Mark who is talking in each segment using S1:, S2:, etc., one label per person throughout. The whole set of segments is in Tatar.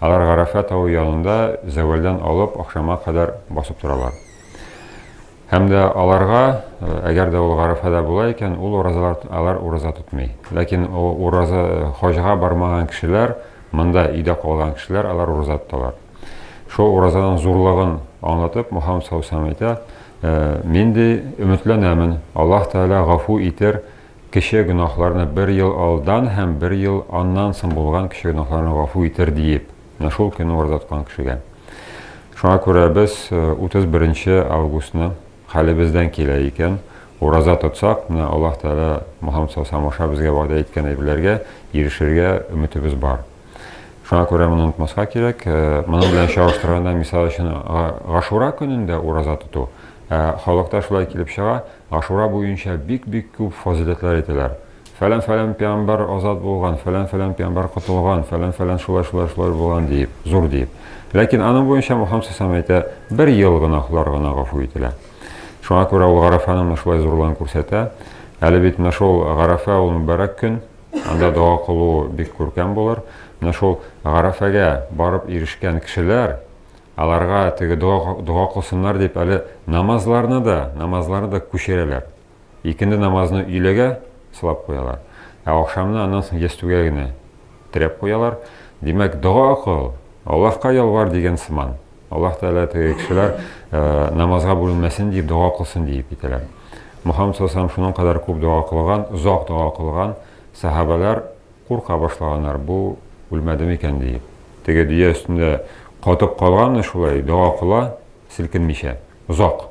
S1: Алар Гарәфә тавы янында зәвәлдән алып ахшамга кадәр басып торалар. Һәм дә аларга, әгәр дә ул Гарәфәдә була икән, ул уразалар алар ураза тотмый. Ләкин ураза хаҗга бармаган кешеләр, монда өйдә калган кешеләр алар ураза тоталар. Шул уразаның зурлыгын аңлатып, Мөхәммәд саллаллаһу әйтә, Мин ди, өметләнәмен, Аллаһ Тәгалә гафу итер Кече гөнаһларны бер ел алдан һәм бер ел аннан соң булган кече гөнаһларны гафу итер, диеп, менә шул көнне ураза тоткан кешегә. Шуңа күрә без 31 нче августны, хәлебездән килә икән, ураза тотсак, менә Аллаһ Тәгалә Мухаммад саллаллаһу алейһи ва саллям аша безгә вәгъдә иткән әйберләргә ирешергә өметебез бар. Шуңа күрә моны онытмаска кирәк. Э, моның белән чагыштырганда, мисал өчен, Гашура көнендә ураза тоту. Э, халыкта шулай килеп чыга, Гашура буенча бик-бик күп фазиләтләр әйтәләр. Фәлән-фәлән пиамбар азат булган, фәлән-фәлән пиамбар котылган, фәлән-фәлән шулай-шулай-шулай булган диеп, зур диеп. Ләкин аның буенча Мухаммад сәсәм әйтә, бер ел гөнаһлар гына гафу ителә. Шуңа күрә ул Гарафаны шулай зурлыгын күрсәтә. Әле бит менә шул Гарафа ул мөбарәк көн, Анда дога кылу бик күркәм булыр. Менә шул гарәфәгә барып ирешкән кешеләр, аларга теге дога, дога кылсыннар дип әле намазларны да, намазларны да күчерәләр. Икенде намазны өйләгә сылап куялар. Ә ахшамны аннан соң ястүгә генә терәп куялар. Димәк, дога кыл, Аллаһка ялвар дигән сыман. Аллаһ Тәгалә теге кешеләр намазга бүленмәсен дип дога кылсын диеп китәләр. Мөхәммәд саллаллаху шуның кадәр күп дога кылган, озак дога кылган, сахабалар курка башлаганнар, бу үлмәде микән диеп. Теге дөя өстендә катып калганны шулай дога кыла, селкенмичә, озак.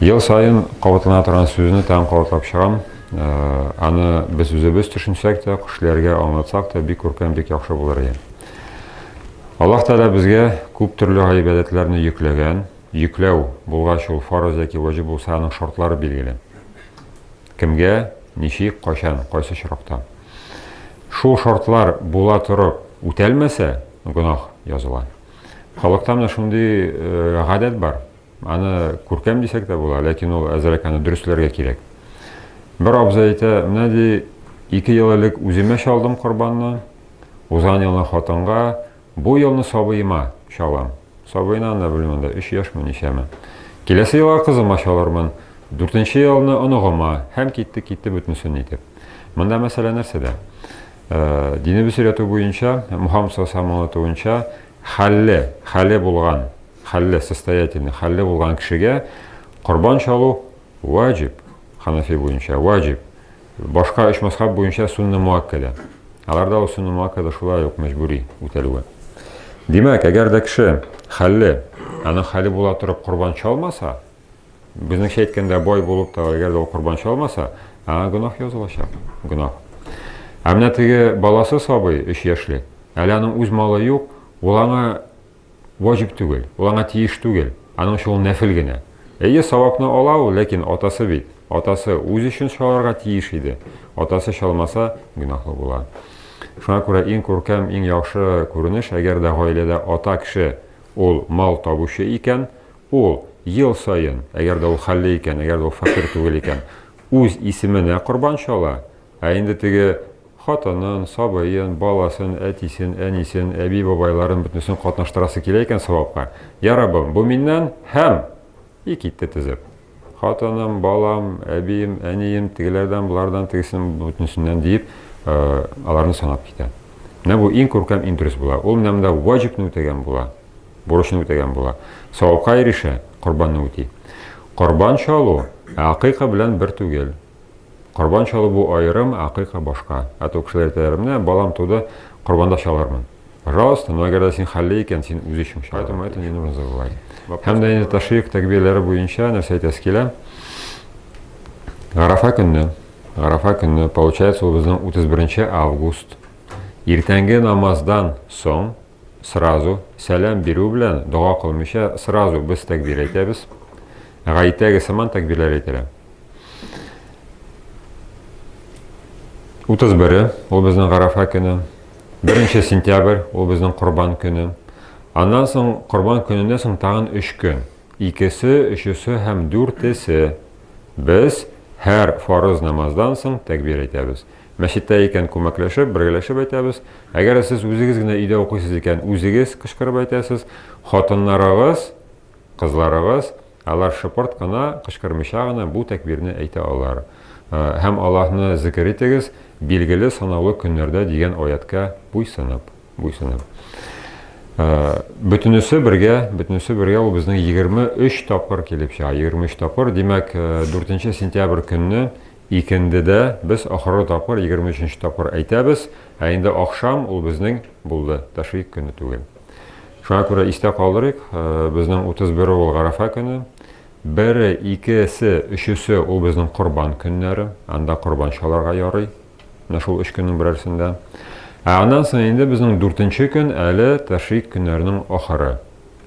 S1: Ел саен кабатлана торган сүзне тагын кабатлап чыгам. Э, аны без үзебез төшенсәк тә, кешеләргә аңлатсак та, бик күркәм, бик яхшы булыр иде. Аллаһ Тәгалә безгә күп төрле гыйбадәтләрне йөкләгән. Йөкләү булгач ул фарыз яки ваҗиб булса, аның шартлары билгеле. Кемгә, ничек, кайчан, кайсы очракта. Шул шартлар була торып үтәлмәсә, гөнаһ языла. Халыкта менә шундый э, гадәт бар. Аны күркәм дисәк тә була, ләкин ул әзрәк аны дөресләргә кирәк. Бер абзый әйтә, менә ди, ике ел элек үземә чалдым корбанны, узган елны хатынга, бу елны сабыема чалам. Сабыена анда белмим анда 3 яшьме ничәме. Киләсе елга кызыма чалырмын, дүртенче елны оныгыма һәм китте китте бөтенесен итеп. Монда мәсьәлә нәрсәдә? Э, Динебез өйрәтү буенча, Мухаммад саллаллаху алейһи аңлатуынча, хәлле, хәле булган Хәлле, состоятельный, хәлле булган кешегә корбан чалу ваҗиб, ханафи буенча ваҗиб. Башка өч мазхаб буенча сунна муаккәдә. Аларда ул сунна муаккәдә шулай ук мәҗбүри үтәлүе. Димәк, әгәр дә кеше хәлле, аның хәле була торып корбан чалмаса, безнеңчә әйткәндә бай булып та, әгәр дә ул корбан чалмаса, аңа гөнаһ язылачак. Гөнаһ. Ә менә теге баласы сабый, 3 яшьлек, әле аның үз малы юк, ул аңа Ваҗиб түгел, ул аңа тиеш түгел, аның өчен ул нәфел генә. Әйе, савапны ала ул, ләкин атасы бит, атасы үзе өчен чаларга тиеш иде, атасы чалмаса, гөнаһлы була. Шуңа күрә иң күркәм, иң яхшы күренеш, әгәр дә гаиләдә ата кеше ул мал табучы икән, ул ел саен, әгәр дә ул хәлле икән, әгәр дә ул фәкыйрь түгел икән, үз исеменә корбан чала, Ә инде теге хатынын, сабыен, баласын, әтисен, әнисен, әби-бабайларын бөтенесен катнаштырасы килә икән савапка, Йа Раббым, бу миннән һәм! И китте тезеп. Хатыным, балам, әбием, әнием, тегеләрдән, болардан, тегесен, бөтенесеннән, диеп, аларны санап китә. Менә бу иң күркәм, иң дөрес була. Ул менә монда ваҗибны үтәгән була, бурычны үтәгән була. Савапка ирешә, корбанны үти. Корбан чалу акыйка белән бер түгел. Корбан чалу бу аерым, акыйка башка. Ә то кешеләр әйтәләр, менә балам туды, корбанда чалырмын. Пожалуйста, но әгәр дә син хәлле икән, син үз өчен чал. Поэтому это не нужно забывать. Һәм дә инде тәшрик тәкбирләре буенча нәрсә әйтәсе килә? Гарафа көнне, Гарафа көнне, получается, ул безнең 31 август. Иртәнге намаздан соң сразу сәлам бирү белән дога кылмыйча сразу без тәкбир әйтәбез. Гаитәге сыман тәкбирләр әйтелә. Утыз бере, ул безнең Гарафа көне. Беренче сентябрь, ул безнең Корбан көне. Аннан соң Корбан көненнән соң тагын өч көн. Икесе, өчесе һәм дүртесе. Без һәр фарыз намаздан соң тәкбир әйтәбез. Мәчеттә икән күмәкләшеп, бергәләшеп әйтәбез. Әгәр сез үзегез генә өйдә укыйсыз икән, үзегез кычкырып әйтәсез. Хатыннарыгыз Кызларыбыз, алар шыпырт кына, кычкырмыйча гына бу тәкбирне әйтә алар. Һәм Аллаһны зикер итегез, билгеле санаулы көннәрдә дигән аятькә буйсынып, буйсынып. Бөтенесе бергә, бөтенесе бергә ул безнең 23 тапкыр килеп чыга, 23 тапкыр. Димәк, 4 сентябрь көнне икендедә без ахыргы тапкыр 23 нче тапкыр әйтәбез, ә инде ахшам ул безнең булды, тәшрик көне түгел. Шуңа күрә истә калдырыйк, безнең 31 ул Гарәфә көне. Бере, икесе, өчесе ул безнең корбан көннәре. Анда корбан чаларга ярый. Менә шул өч көннең берәрсендә. Ә аннан соң инде безнең дүртенче көн әле тәшрик көннәренең ахыры.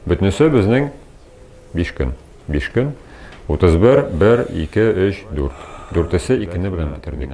S1: Бөтенесе безнең биш көн. Биш көн. 31, 1, 2, 3, 4. Дүртесе икене белән бетердек.